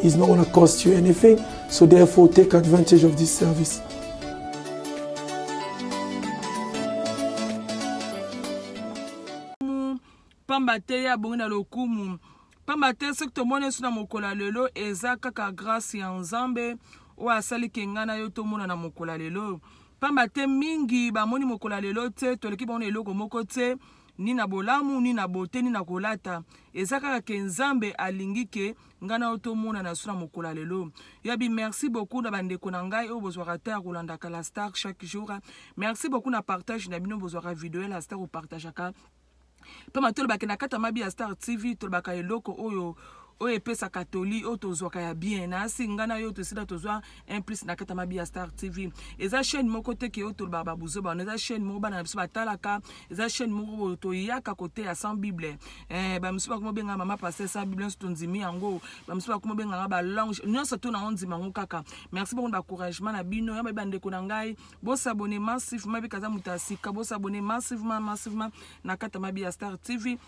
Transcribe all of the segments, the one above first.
He's not gonna cost you anything, so therefore take advantage of this service. pamba te ye abongi na lokumu pamba te soki tomoni yesu na mokolo ya lelo eza kaka grâce ya nzambe oyo asali ke ngai na yo tomona na mokolo ya lelo pamba te mingi bamoni mokolo ya lelo te toleki bango na eloko moko te ni na bolamu ni na bote ni na kolata eza kaka ke nzambe alingi ke ngai na yo tomonana so na mokolo ya lelo yabi merci beaucoup na bandeko na ngai oyo bozwaka ata ya kolandaka la star chaque jour merci beaucoup na partage na bino bozwaka video ya la star opartageaka mpe matolobake na kati ya mabi ya star tv tolobaka eloko oyo oyo epesaka toli oyo tozwaka ya bien nasi ngai na yo tosila tozwa un plus na kata mabi ya star tv eza chaîne moko te ke oyo tolobaka babuzo bana eza chaîne moko bana na biso batalaka eza chaîne moko boyo toyaka koteya sans bible eh, bamisu bakoma obenga mama paster sans bible nyonso tondimi yango bamisu bakoma obenganga balange nyonso to na ondima yango kaka merci beaucoup na bacouragement na bino ya bayebi bandeko na ngai bosabone massivement ebika aza moto ya sika bosabone massivement massivement na kata mabi ya star tv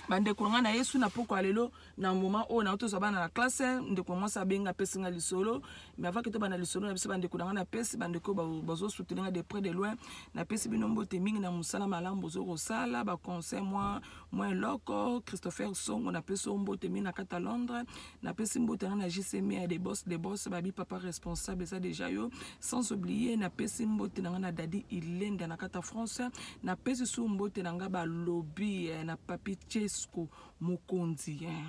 bandeko na ngai na yesu na pokwa lelo na moment oyo na tozwa bana na classe ndeko mwasi abenga apesi nga lisolo mais avant kete bana lisolo na biso bandeko na nga napesi bandeko bazosutele nga de près de loin napesi bino mbote mingi na mosala malamu bozo kosala baconseil mwa mwa eloko christopher songo napesi oyo mbote mingi na kati ya londres napesi mbote nga na jcm ya de bos de bos babi papa responsable eza deja yo sans oublier napesi mbote na nga na dadi ilenda na kati ya france napesi su mbote na nga balobi eh, na papi chesco mokonzi eh.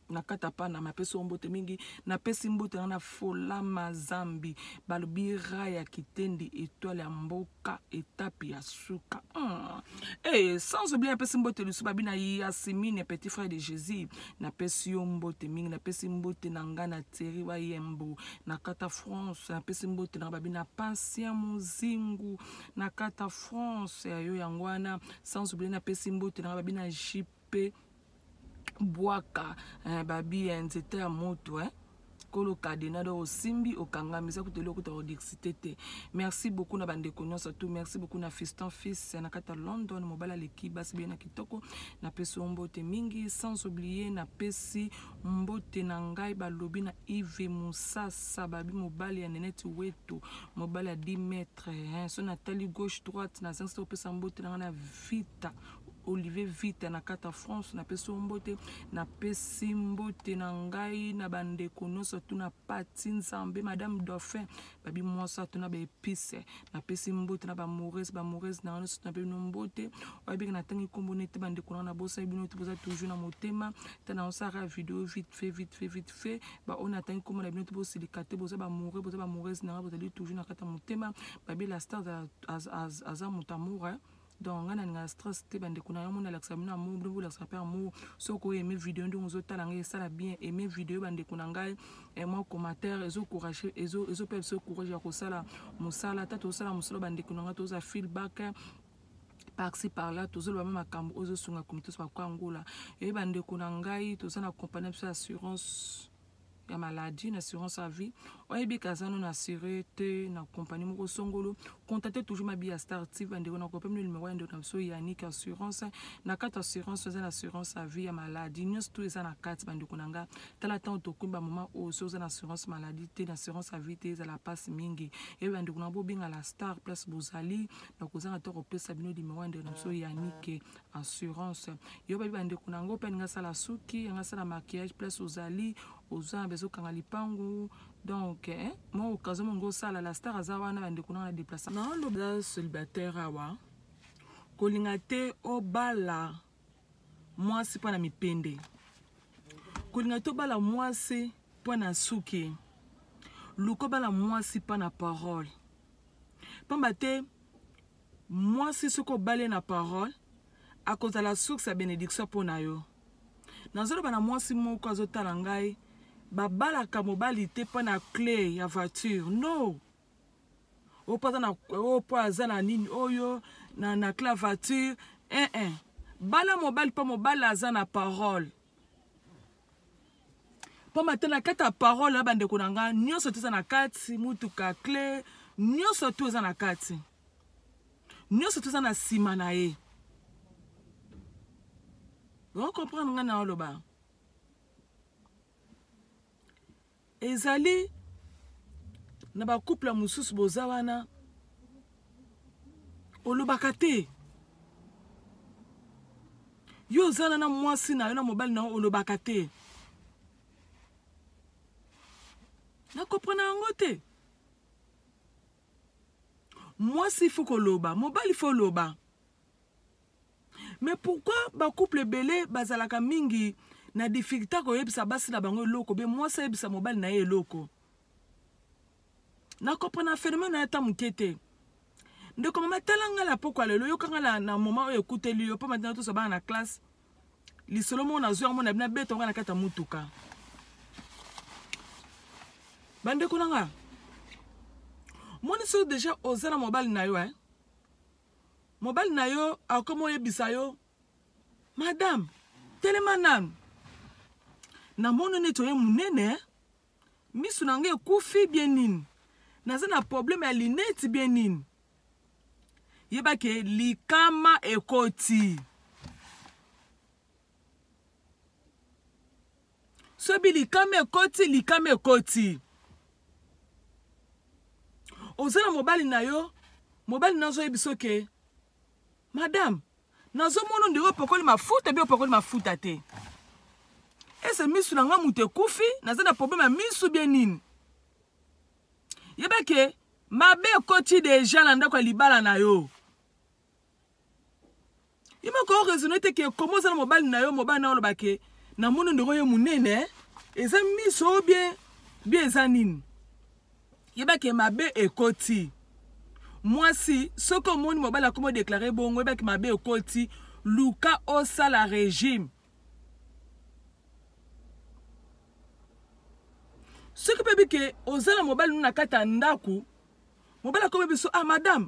nakata pana mapesi yo mbote mingi napesi mbote na na folama zambi balobi ra ya kitendi etoile ya mboka etape ya suka hmm. hey, eh, sans oublie napesi mbote lisu babi na yasimine petit frère de jésus napesi yo mbote mingi napesi mbote na ngai na teri wayembo nakata france napesi mbote na babi na pasia mozingu nakata france yayo yango wana sans oublier napesi mbote nanga babi na jp bwaka eh, babi eh, nzete ya moto eh. kolo kadena do osimbi okangami eza kutu eloko otaka odixite te merci beaucoup na bandeko nyonso tout merci beaucoup na fiston fils na kati ya london mobali aleki basi beye na kitoko napesi yo mbote mingi sans oublie napesi mbote na ngai balobi na ive mosasa babi mobali ya neneti wetu mobali ya 10 mètre titre hein. so natali gauche droite nazangisi te kopesa mbote na ngai na vita olivier vita na kata france napesi yo mbote napesi mbote na ngai na bandeko nyonso tuna pati nzambe madame dauphin babi mwasi atuna baepice napesi mbote na bamourese bamourese na ngai nyonso tuna bino mbote oyebiki natangi nkombo nete bandeko na ngai nabosai bino te boza toujours na motema ta na osaka video vite fait vite fait vite fait ba on atteint comme la bino bo silikate boza ba moureux boza ba moureuse nanga bozali toujours na kata motema babi la star az az aza mutamura hein. donc ngai nalinga stress te bandeko na yo mona alakisa bino amour bino bolakisa mpe amour soki oyeme video ndenge ozotala ngai esala bien eme video bandeko na ngai eh, mwa commentaire ezocourage ezopesa biso courage ya kosala mosala ata tozosala mosala bandeko na ngai toza feedback parci parla tozoloba ma makambo oyo ezosunga komite oso bakwa angola eyebi bandeko na ngai toza na kompani na biso ya assurance ya maladie na assurance ya vie oyebi kaza no na assure te na kompani moko songolo contacte toujours mabi ya star tv bandeko na kopemino numero ya ndeko na biso yanik assurance na kati assurance eza na assurance ya vie ya maladie nyonso to eza na kati bandeko na nga tala ntango tokomi bamoma oyo so oza na assurance maladie te na assurance ya vie te ezala mpasi mingi eyebi bandeko na bobenga la star place bozali nakozanga to kopesa bino limero ya ndeko na biso yanike assurance yo bayebi bandeko na yango mpe alingi asala suki yango asala maquillage place ozali oza bezo kanga lipangu donc eh, mwa occasion mongo osala la star aza wana bandeko nanga na deplace naoloba célibataire awa kolinga te obala mwasi mpo na mipende kolinga tobala mwasi mpo na suki luka obala mwasi mpo na parole mpamba te mwasi soki obale na parole akozala source ya benediction mpo na yo nazoloba na mwasi moko azotala ngai babalaka mobali te mpo na cle ya voiture no oyo mpo aza na oyo mpo aza na nini oyo na, na clavature eh -eh. bala mobali mpo mobali aza na parole mpo mata na kati ya parole ya bandeko na ngai nyonso to eza na kati motuka cle nyonso to eza na kati nyonso to eza na nsima na ye okomprendre ngai na oloba ezali na bacouple mosusu boza wana olobaka te yo ozana na mwasi na yo na mobali na yo olobaka te nakoprana yango te mwasi fo koloba mobali fo loba mais pourquoi ba couple ebele bazalaka mingi na difficulté koyebisa basi na bango eloko be mwasi ayebisa mobali na ye eloko nakoprena phénomène na ye ata moke te ndeko mama tala ngai na pokwa lelo yoka ngai na, na moma oyo ekuteli yo mpo matina tosa bana na classe lisolo moko nazwi yango na bina beta ngai na kati ya motuka bandeko na ngai moni soki deja oza na mobali na yo eh? mobali na yo akomi oyebisa yo madame telema nanu namoni neti oye monene misu na ngai ekufi bie nini naza na probleme ya lineti bie nini yeba ke likama ekoti sobi likama ekoti likama ekoti oza na mobali na yo mobali na azoyebi soki madame nazomona ondiri opakoli mafuta bi opakoli mafuta te ese misu na ngai moto ekufi naza na probleme ya misu bie nini yebake mabe ekoti deja na ndako ya libala na yo ye moko oraisonne te ke koma oza na mobali na yo mobali na yo oloba ke namoni ndeko ye monene eza miso bien bien eza nini yeba ke mabe ekoti mwasi soki omoni mobali akomi odeklare bongo yeba ke mabe ekoti luka osala regime soki mpe bike oza na mobali no na kati ya ndako mobali akomi biso ah madame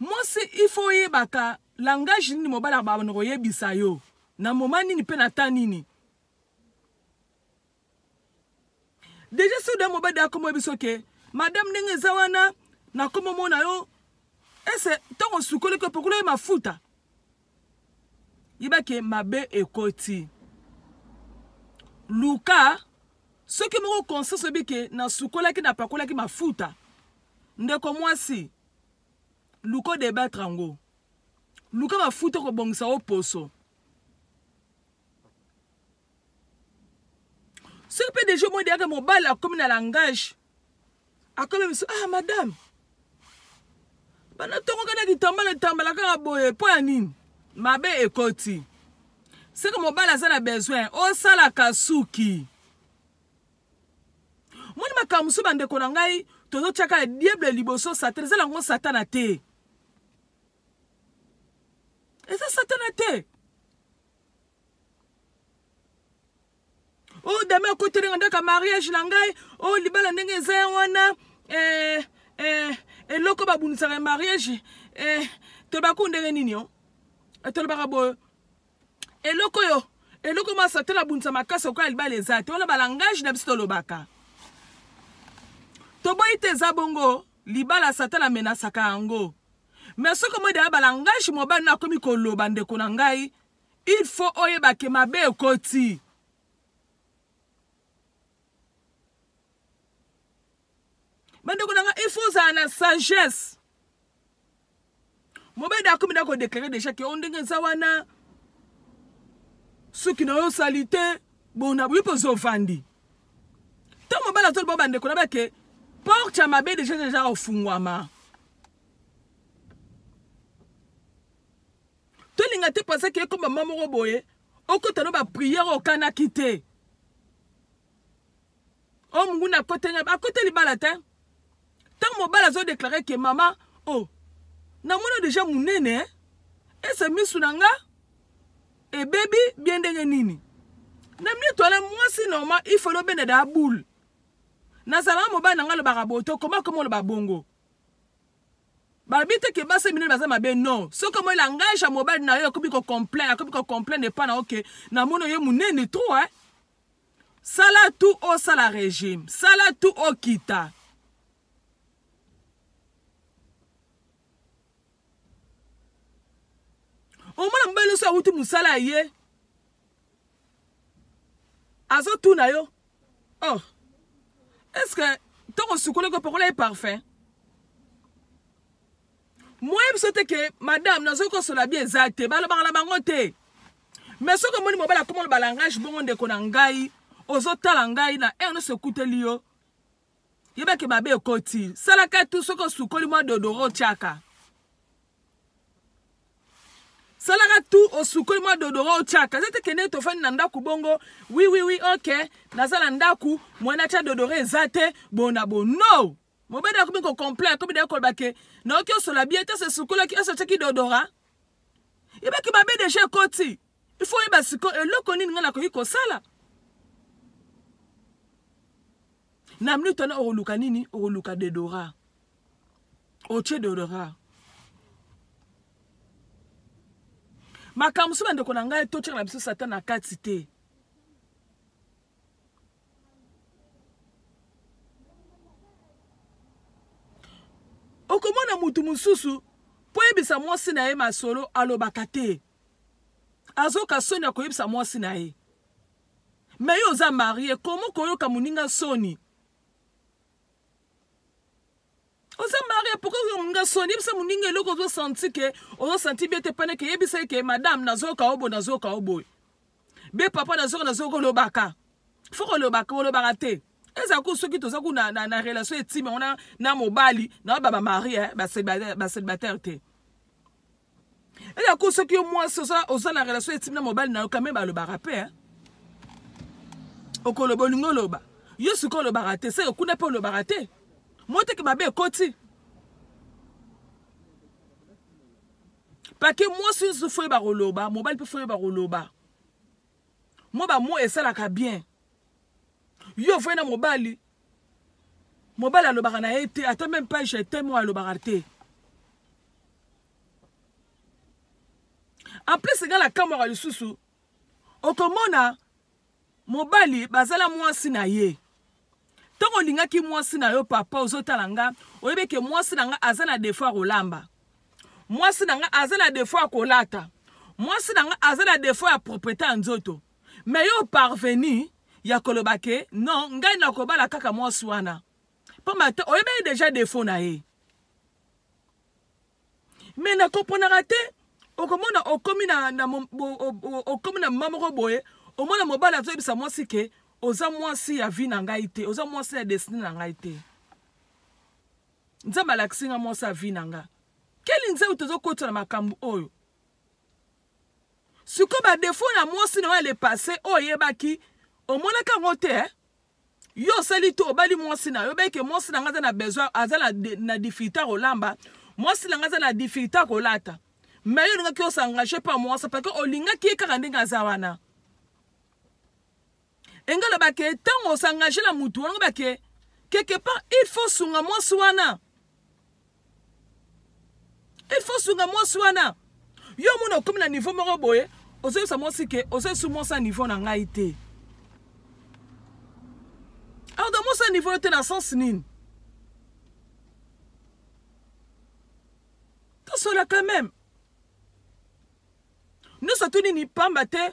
Mwasi il faut oyebaka langage nini mobali abana koyebisa yo na moma nini mpe na ta nini deja soki da mobali akomo yebi so ke madame ndenge eza wana nakomo mona yo ese ntango osukoli ko pokola ye mafuta yeba ke mabe ekoti luka soki moko conscience oyebi ke nasukolaki napakolaki mafuta ndeko mwasi luka odebattre yango luka mafuta okobongisa o poso soki mpe deja omoi deyaka mobali akomi na langage akomi biso ah madame bana tongoka na kitambala etambala kaka boye mpo ya nini mabe ekoti seke mobali aza na besoin osalaka suki moni makambo mosusu bandeko na ngai tozotyaka ya diable liboso satan eza nango satana te eza satana te o oh, dame akotelenga ndaka mariage na ngai o oh, libala ndenge eza ya wana eh, eh, eloko babundisaka ya mariage eh, tolobaka ndenge nini o oh? eh, tolobaka boye eloko oyo eloko ma satana abundisa makasi okola libala eza te wana balangage na biso tolobaka toboyi te eza bongo libala satana amenasaka yango me soki omoi deya balangage mobali na akomi koloba ndeko na ngai il faut oyeba ke mabe ekoti bandeko na ngai il faut ozala na sagesse mobede akomi na kodeklare deja ke o ndenge eza wana suki na yo osali te bona boyi mpoza ovandi to mobali azoli bao bandeko na bake porte ya mabe deja deja ofungwama tolinga te mpoza ke ekoma mwa moko boye okota no bapriere okanaki te o oh, munguna akoteli akoteli libala te ntango mobali azodeklare ke mama o oh, namona deja monene eh? ese misu na nga ebebi bie ndenge nini na mitu wana mwasi normal ifalo obenda da boule nazalaka mobali na ngai alobaka boto koma koma oloba bongo balobi te ke basi minene baza mabe non soki omoi langage ya mobali na yo akomi kocomplain akomi kocomplain epa na oke namoni oye monene trop eh? sala tu osala regime sala tu okita omona mobali nyonso awuti mosala ya ye azotuna yo oh est ce que ntango osukolaki opakola ye parfum moye biso te ke madame nazoki kosola bi eza te balobaka na bango te mais soki omoni mobali akoma loba langage bongo ndeko na ngai ozotala ngai na heure nyonso ekuteli yo yebake mabe ekoti salaka tu soki osukoli mwa dodoro otyaka salaka tu osukoli mwa dodoro otyaka eza te kende tofandi na ndako bongo wiwiwi ok naza na ndako mwana atya dodoro eza te bona bo no mobali akomi kocomplain akomi naye koloba ke naoki osola bie te sesukolaki esi otyaki dodora yebaki mabe deja ekoti ifo oyeba siko eloko nini ngai nakoki kosala na minute wana okoluka nini okoluka dedora otye dedora makambo mosusu bandeko na ngai totyaka na biso satan na kati te okomona motu mosusu mpo oyebisa mwasi na ye masolo alobaka te azoka soni ya koyebisa mwasi na ye me yo oza marie komo koyoka moninga soni oza maria pourkoi nga soni yebisa moninga eloko ozo santi ke ozo santi bie te pene ke yebisa ye ke madame nazoyoka oboye nazoyoka oboye be papa nazoyoka nazoyoka olobaka fo kolobaka olobaka te eza ku soki toza ku na, na, na relation etime yango na, na mobali na baba marie eh, baselibataire te elako soki yo mwasi oza na relation etimi na mobali na yo kame balobaka mpe eh. okoloba olingi oloba yo sikoyo olobaka te seke kuna mpe olobaka te moteke mabe ekoti pake mwasi nyonso fo yeba koloba mobali mpe fo yeba koloba mo bamo esalaka bien yo ofai na mobali mobali alobaka na ye te ata meme page eteme oyo alobaka te en plus nga na kamwaka lisusu okomona mobali bazala mwasi na ye ntango olingaki mwasi na yo papa ozotala nga oyebi eke mwasi na nga aza na defo ya kolamba mwasi na nga aza na defo ya kolata mwasi na nga aza na defo ya propriete ya nzoto mais yo parvenu ya koloba ke non ngai nakobala kaka mwasi wana mpamba te oyebaki deja defo na ye me nakoponaka te okomona okomi na, na, okomi na mma moko boye omona mobali azoyebisa mwasi ke oza mwasi ya vi na ngai te oza mwasi ya destine na ngai te nzambe alakisi nga mwasi ya vi na nga keli nzambe tozokotisa na makambo oyo siko ba défaut na mwasi na yo ya le passé oyo oyebaki omonaka yango te eh? yo osali to obali mwasi na yo obeke mwasi na ngai aza na besoin aza na, na difficulté ya kolamba mwasi na ngai aza na difficulté ya kolata me yo olingaki osangaje mpa mwasi parceke olingaki ye kaka ndenge aza wana enge oloba ke ntango osangage na motu wana oloba ke quelque part il faut sunga mwasi wana il faut sunga mwasi wana yo omona okomi na niveau moko boye ozoyebisa mwasi ke ozoyesu mwasi na niveau na ngai te alors donc mwasi na niveau yo te na sens nini tosola quand même nyonso tu nini pamba te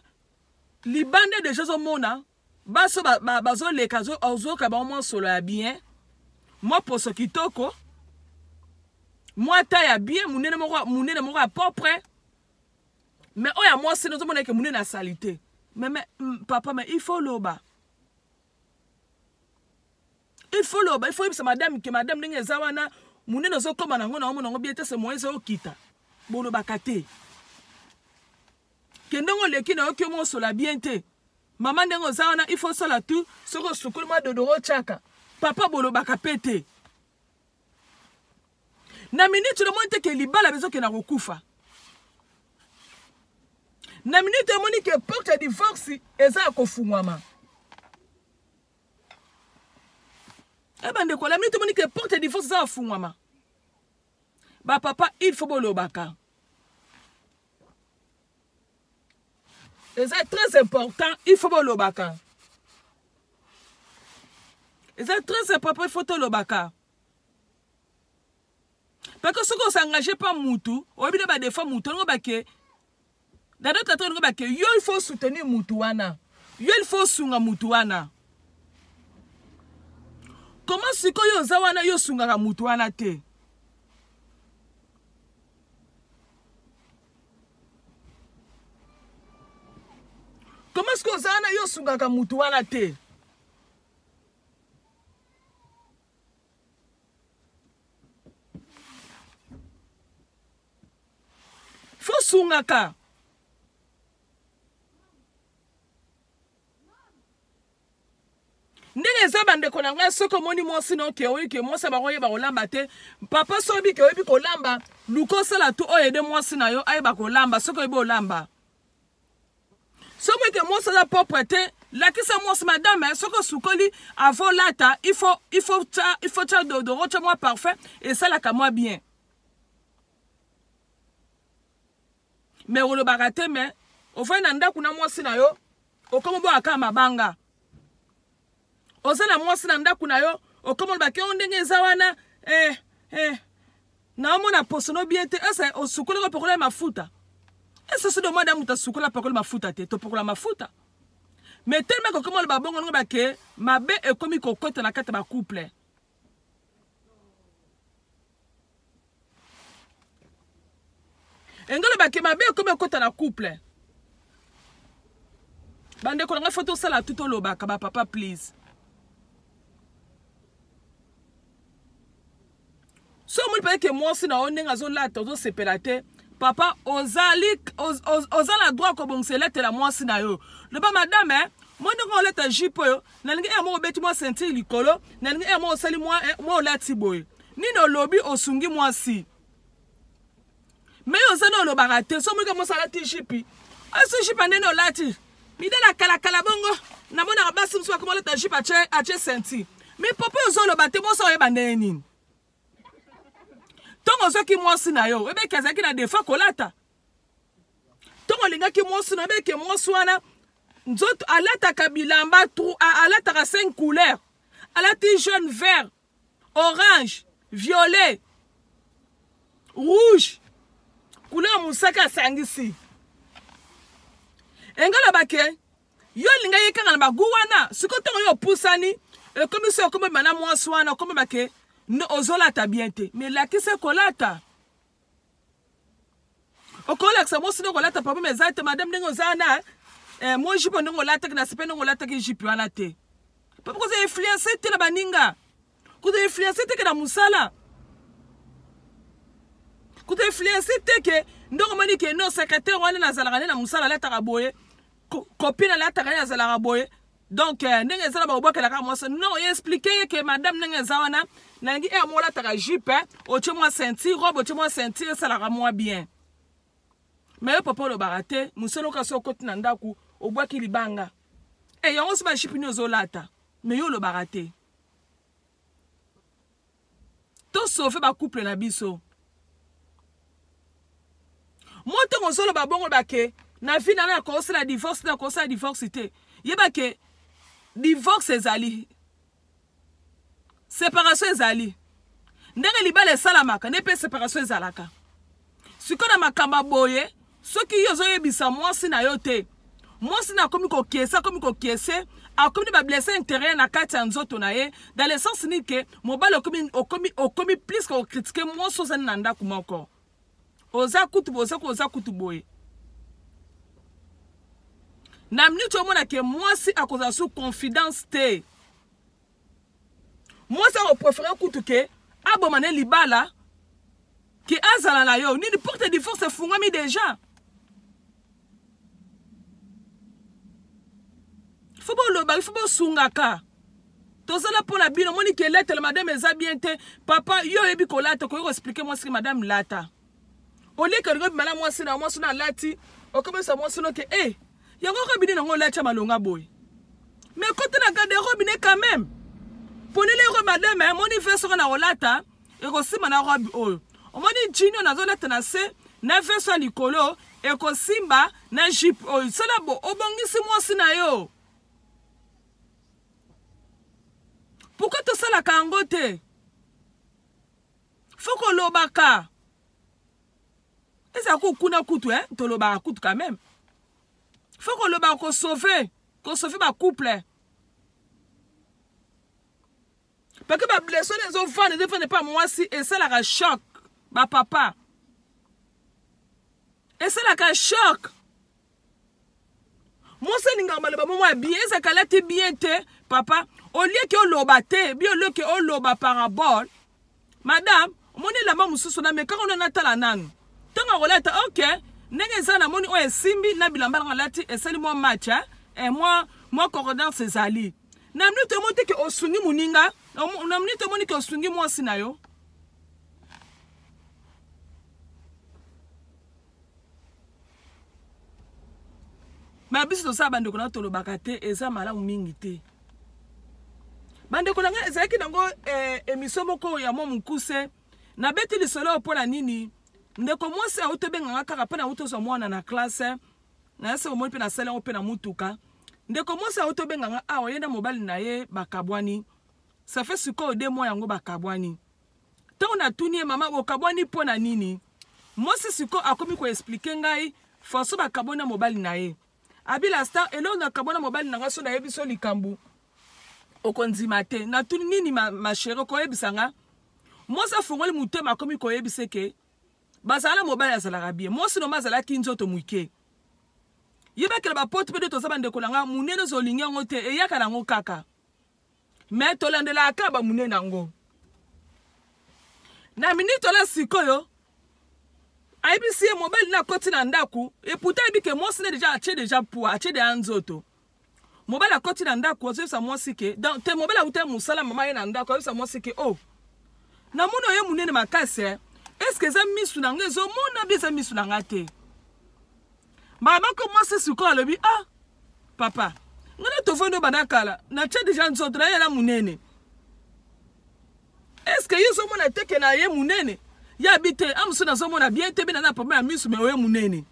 libanda deja ozomona baso bazoleka ba, ba ozoyoka bango mwa solo ya bien mwa poso kitoko mwa ta ya bien monene moko monene moko ya propre me oyo ya mwasi no ozomona eke monene ya salite meme papa me il faut oloba il faut oloba il faut oyebisa madame ke madame ndenge eza wana monene ozokoma nango na omona yango bien te se moyen ezokita bolobaka te ke ndenge oleki na yo kiomo osola bien te mama ndenge oza wana il faut osala tu soki osukoli mwa dodoro otyaka papa bolobaka mpe te na miniti lomoni te ke libala bezokenda kokufa na miniti omoni ke porte ya divorce eza ya kofungwama e bandeko na miniti omoni ke porte ya divorce eza ya kofungwama bapapa il faut bolobaka eza très important il faut bolobaka eza très important il faut tolobaka parce que soki osengage mpa mutu oyebi na badefa mutu olingo bake na d'autre ata olingo bake yo il faut soutenir mutu wana yo il faut osunga mutu wana koma sikoyo oza wana yo osungaka mutu wana te koma soki oza wana yo osungaka motu wana te fo osungaka ndenge eza bandeko na ngai soki omoni mwasi na oke oyebi ke mwasi ya bango oyeba kolamba te papa soki oyebi ke oyebi kolamba luka osala tu oyo ede mwasi na yo ayeba kolamba soki oyebi olamba soki eke mwasi aza propre te lakisa mwasi madame eh, soki osukoli avo olata ifo tya dodoro tya mwa parfum esalaka mwa bien me olobaka te me ofai na ndako na mwasi na yo okomi oboya kaka mabanga oza na mwasi na ndako na yo okomi olobaki o oh, ndenge eza wana eh, eh. naomona posono bie te ese osukoli kopakola ya mafuta ese sodo mwa da moto asukoli apakoli mafuta te topakola mafuta me telema kokomi oloba bongo ndenge bake mabe ekomi kokota na kati ya bacouple engalo bake mabe ekomi ekota na couple bandeko na ngai fo tosala tu tolobaka bapapa please so omoni mpe ete mwasi na yo ndenge azolata ozosepela te papa ozali oz, oz, oza na droit kobongisa elatela mwasi na yo loba madame eh, mondenge olata jipe oyo nalingi eye moko obeti mwa sentire likolo nalingi eye moko osali mwa eh, mwa olati boye nini olobi osungi mwasi me yo oza na olobaka te so moika mwasi alati jipi osi jipi andeni olati midele akalakala bongo namonaka basi mosusu bakoma olata jipi atie sentire me popo ozo oloba te boso oyeba ndenge nini ntongo ozwaki mwasi na yo oyebeki azalaki na defa kolata ntongo alingaki mwasi na beke mwasi wana nzoto alataka bilamba alataka cinq couleur alati jaune vert orange violet rouge couleur mosaka asangisi engalobake yo olinga ye kaka na bagu wana sikoyo ntongo yo opusani ekomi so okomi bana mwasi wana okomi bake ozolata bien te melakisa kolata okolakisa mwasi ndenge olata papa ma eza te madame ndenge oza na eh, mwa jipe ndenge olataki na sepe ndenge olataki jipe wana te papa koza influence te na baninga kuta influence te ke na mosala kuta influence te ke ndenge omoni ke no secrétaire wana nazalaka nde na mosala alataka boye kopine alataka nde azalaka boye donc euh, ndenge eza na bakobwakela kaka mwasi non explike ye ke madame ndenge eza wana nalingi e eh, yango olataka jupe eh. otye mwa ceinture robe otye mwa ceinture esalaka mwa bien me yo papa olobaka te mosala oka so okoti na ndako obwaki libanga e yango si bajipe nini ozolata me yo olobaka te To sauver ba couple na biso. Moi ntango ozoloba bongo bake na vie na na kosala divorce na kosala divorce te yeba ke divorce ezali separation ezali ndenge libala esalamaka nde mpe separation ezalaka siko na makambo ya boye soki yo ozoyebisa mwasi na yo te mwasi na akomi kokiese akomi kokiese akomi na bablesse intérieure na kati ya nzoto na ye dans le sens nini ke mobali okomi, okomi, okomi plus kokritike mwasi ozali na ndako moko oza kutu boye oza, oza kutu boye na minute omona ke mwasi akozala su confidence te mwasi akoprefere kutu ke aboma ne libala ke azala na yo nini porte divorce efungwami deja fo bolobaki fo bosungaka tozala mpo na bino moni ke letele madame eza bien te papa yo oyebi kolata okoki koexplike mwasi ke madame lata oleki olingi obima na mwasi na mwasi na alati okomisa mwasi no ke e eh, yango robine nango olati ya malonga boye me kote na gade robine quand même polele ero madame amoni eh, vese oko na kolata ekosimba na robe oyo omoni jino nazolata na se na vese ya likolo ekosimba na jipe oyo sala bo obongisi mwasi na yo pourkui tosalaka yango te faut kolobaka ezala kuku kuna kutu eh? tolobaka kutu quand même faut kolobaka kosauve kosauve bacouple parce que bablessure wana ezovanda ezovanda epa mwasi esalaka choc bapapa esalaka choc mwasi alingaka maloba momo ya bien ezalaka alati bien te papa olieke oloba te bi olieke oloba parabole madame omoni elamba mosusu namekaka ono natala nanu ntango akolata ok ndenge eza namoni oyo esimbi na bilamba nanga alati esali mwa match eh? e eh, mwa mwa concordance ezali na minute omoni te ke osungi moninga na minute omoni ke osungi mwasi na yo ma biso tosala bandeko na tolobaka te eza malamu mingi te bandeko na ngai ezalaki nango eh, emisio moko ya mwa mokuse nabeti lisolo oyo mpo na nini ndeko mwasi auti obenganga kaka mpo na auti ozwa mwana na klase nayese omoni mpe nasali yango mpe na motuka ndeko mwasi auti obenganga awa ye na mobali na ye bakabwani safe sikoyo de mwa yango bakabwani ntango natuni ye mama bokabwani mpo na nini mwasi siko akomi koexplike ngai faso bakabwani na mobali na ye abila star eloko nakabwa na mobali na ngai so nayebi so likambo okondima te natuni nini mashere ma okoyebisa nga mwasi afongoli motema akomi koyebisa eke bazala na mobali azalaka bie mwasi noma azalaki nzoto moke yebakela bapote mpe nde toza bandeko na ngai monene ozolingi yango te eyaka na yango kaka me tolandelaka kaka bamonene yango na miniti ola sikoyo ayebisi ye mobali na akoti na ndako eputa ayebi ke mwasi ne deja atie deja pua atie deja nzoto mobali akoti na ndako azoyebisa mwasi ke donc te mobali awuta mosala mama ye na ndako azoyebisa mwasi ke o oh, namoni oye monene makasi eh? eske eza misu na nga ezomona bi eza misu na nga te mbala moko mwasi sikoyo alobi ah papa ngai na tofandi obanda kala natya deja nzoto na ye na monene eske ye ozomona te ke na ye monene ye abi te a mosusu nazomona bien te bina na papa ya miso me oye monene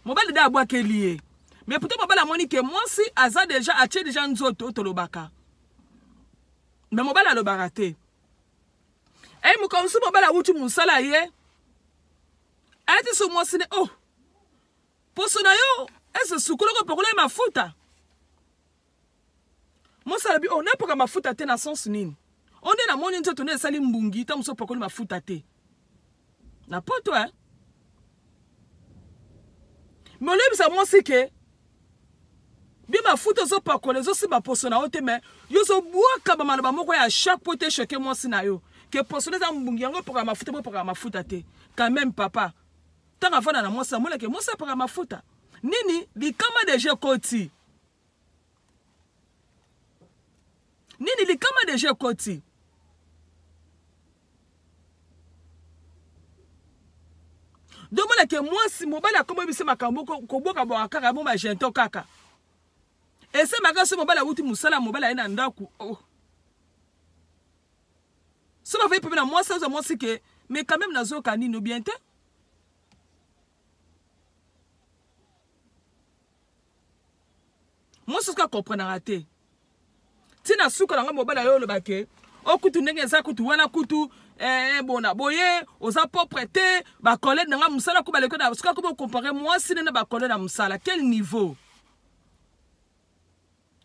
mobali de abwakeli ye me puto mobali amoni ke mwasi aza deja atye deja nzoto tolobaka me mobali alobaka te ei mokamwisi mobali awuti mosala ye ayati so mwasi ne oh poso na yo ese sukoloko opakola ye mafuta mwasi alobi oh napoka mafuta te na sense nini o nde namoni nzoto nde esali mbungi ntango mosusu opakoli mafuta te na poto e molebisa mwasi ke Bie mafuta ozo pakola ezo simba poso na yo te mais yo ozo bwaka ba maloba moko ya choc po te choquer mwasi na yo ke poso na eza mbungi yango epakaka mafuta po epakaka mafuta te quand même papa ntango afanda na mwasi amona ke mwasi apaka mafuta nini likama deja ekoti nini likama deja ekoti domona ke mwasi mobali akoma biso makambo koboka bwaka kaka yango magento kaka esemaka so mobali awuti mosala mobali aye na ndako oh. so bafai pepe na mwasi azwa mwasi ke mais quand même nazoyoka nini obien te mwasi soki akomprenaka te tina suka na ngai mobali ayo oloba ke o kutu ndenge eza kutu wana kutu eh, bona boye oza propre te bacolede na ngai mosala ko baleko na soki akomi okompare mwasi ne na bacolede na mosala quel niveau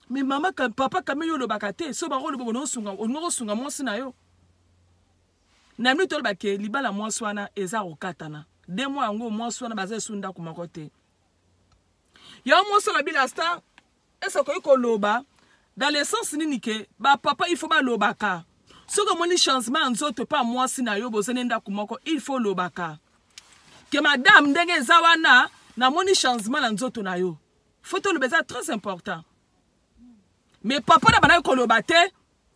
mais mama papa kame yo olobaka te so bango oloba bona osunga olingaki osunga mwasi na yo na minute oloba ke libala mwasi wana eza kokatana de mwa yango mwasi wana baza esu ndako moko te yango mwasi olobila star ese okoki koloba dans le sens nini ke bapapa il faut balobaka soki omoni changement ya nzoto mpe ya mwasi na yo bozali ndako moko il faut olobaka ke madame ndenge eza wana namoni changement na nzoto na yo fo toloba eza très important mais papa na banaki koloba te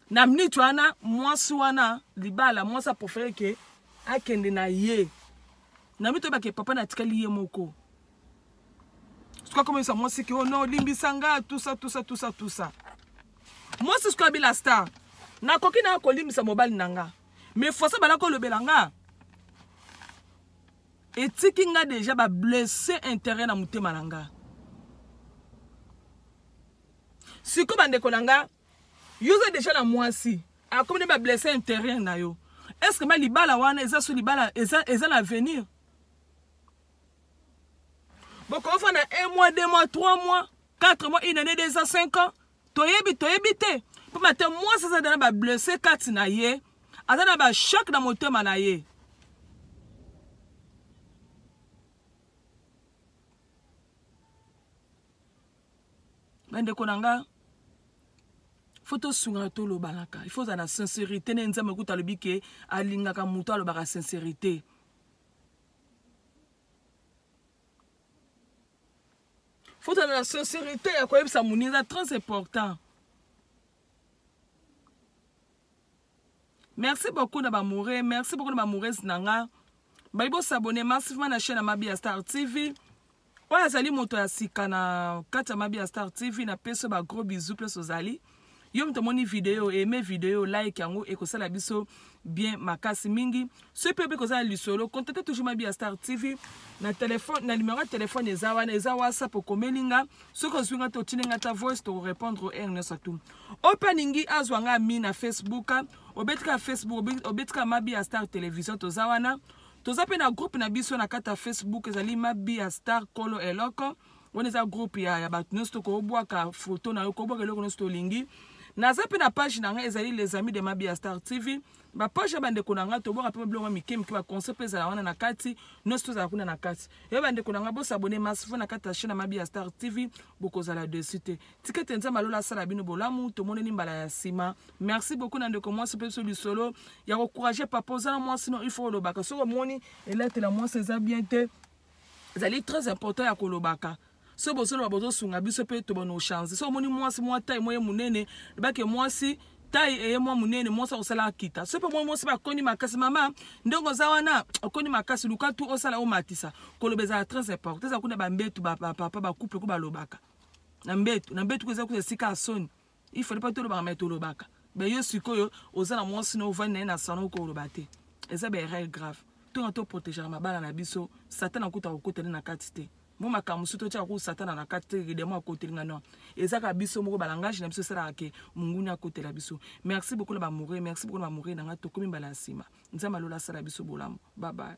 na minute wana mwasi wana libala mwasi aprefere ke akende na ye na minute oyo bake papa natikali ye moko suka komonisa mwasi ke ono oh olimbisa nga tusa tusa tusa tusa mwasi suka bila star nakoki na kolimbisa mobali na nga mais fosa bala kolobela nga etiki nga deja bablesse intérêt na motema na nga sikoyo bandeko na nga yo oza deja na mwasi akomi na ba blesse intérieur na yo est ce que ba libala wana eza so libala eza, eza na avenir bokofa na un mois deux mois trois mois quatre mois une année deux ans cinq ans toyebi toyebi te mpo mate mwasi aza na ba blesse kati na ye aza na ba choc na motema na ye bandeko na nga fo tosungana tolobanaka il faut ozala na sincérité nde nzambe kuta alobi ke alingaka moto alobaka sincérité fo ozala na sincérité ya koyebisa moninga eza très important merci beaucoup na bamoure merci beaucoup na bamoures na nga bayi bosabone massivement na chaîne ya mabia star tv oyo azali moto ya sika na kati ya mabia star tv na peso ba gros bisou place ozali yo moto omoni video eme video like yango ekosala biso bien makasi mingi soki mpe obe kozala lisolo contacte toujours mabi ya star tv na telefone na numero ya telefone eza wana eza whatsapp okomeli nga soki ozwi nga te otindi nga ta voice tokorepondre heure nyonso atu oyo mpe alingi azwa nga mi na facebook obetika facebook obetika mabi ya star television toza wana toza mpe na groupe na biso na kati ya facebook ezali mabi ya star kolo eloko wana eza groupe ya, ya bato nyonso tokobwaka foto na yo kobwaka eloko nyonso tolingi naza mpe na page na ngai ezali les amis de mabi ya star tv bapoche ya bandeko na ngai tobwaka mpe babiloko mike mike baconse mpe ezala wana na kati nyonso tozala kuna na kati yo bandeko na ngai bosabone masifo na kati ya chaine mabi ya star tv bokozala dessus te tika ete nzambe alola asala bino bolamu tomoneni mbala ya nsima merci beaucoup na ndeko mwasi mpe biso lisolo ya kocourage papa oza na mwasi no ifo olobaka soki omoni elatela mwasi eza bien te ezali très important ya kolobaka so bozoloba bozosunga biso mpe tobano change so omoni mwasi mwa tai moye monene ebake mwasi tai eye mwa monene mwasi akosala akita so mpe omoni mwasi bakoni makasi mama ndenge oza wana okoni makasi luka tu osala omatisa koloba ezala très important eza kuna bambetu bapapa bacouple ko balobaka na mbetu na mbetu ko eza kuza esika ya soni il fallait pas tolobaka mais tolobaka mais yo sikoyo oza na mwasi na ovandi na ye na salon okoloba te eza ba erreur grave tonga toprotegaka mabala na biso satana akuta kokota nde na kati te mo makambo mosusu totyaka kutu satana na kati te demo akoteli nga non eza kaka biso moko balangage na biso esalaka ke monguni akotela biso merci beaucoup na bamoure merci beaucoup na bamoure na ngai tokomi mbala ya nsima nzambe alola asala biso bolamu babaye